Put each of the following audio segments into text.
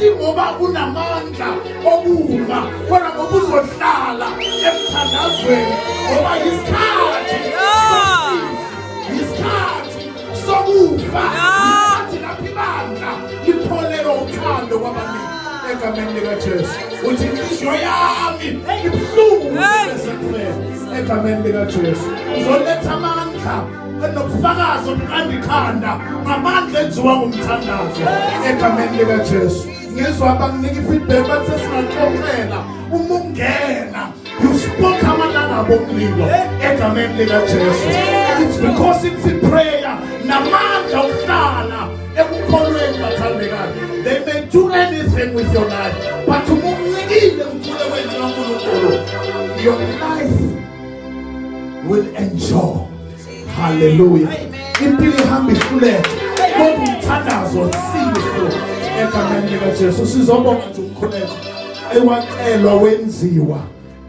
ingoba kunamandla okufa kodwa ngoba uzohlala emthandazweni ngoba yisikhathi yisikhathi sokufa isikhathi lapho ibandla lipholelwa uthando kwabaningi egameni likajesu uthi inhliziyo yami ibuhlungu esephele egameni likajesu uzoletha amandla nobufakazi obuqanda ikhanda ngamandla enziwa ngumthandazo egameni likajesu ngizwa abanginika ifeedback bathi sesingaxoxela uma ungena you spoke amalanga abomlilo egameni likajesu it's because it's a prayer namandla okuhlala ekukholweni bathandekayo they may do anything with your life but uma umnikile umthule wenu kankulunkulu your life will enjoy haleluya impilo ihamba ihluleke kodwa umthandazo sizo egameni likaJesu sizobonga nje umkhuleko ewacelwa wenziwa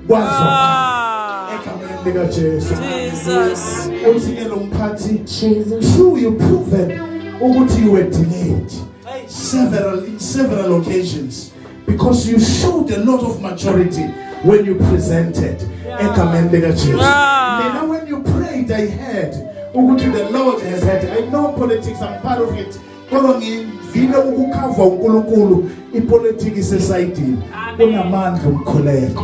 kwazo ah. egameni likaJesu Jesus uthike lo mphathi Jesus true you proven ukuthi you were delayed several in several occasions because you showed a lot of maturity when you presented egameni likaJesu mina when you prayed i heard ukuthi the lord has had i know politics i'm part of it kodwa ngivile ukukhava uNkulunkulu ipolitiki sesayidini kunamandla umkhuleko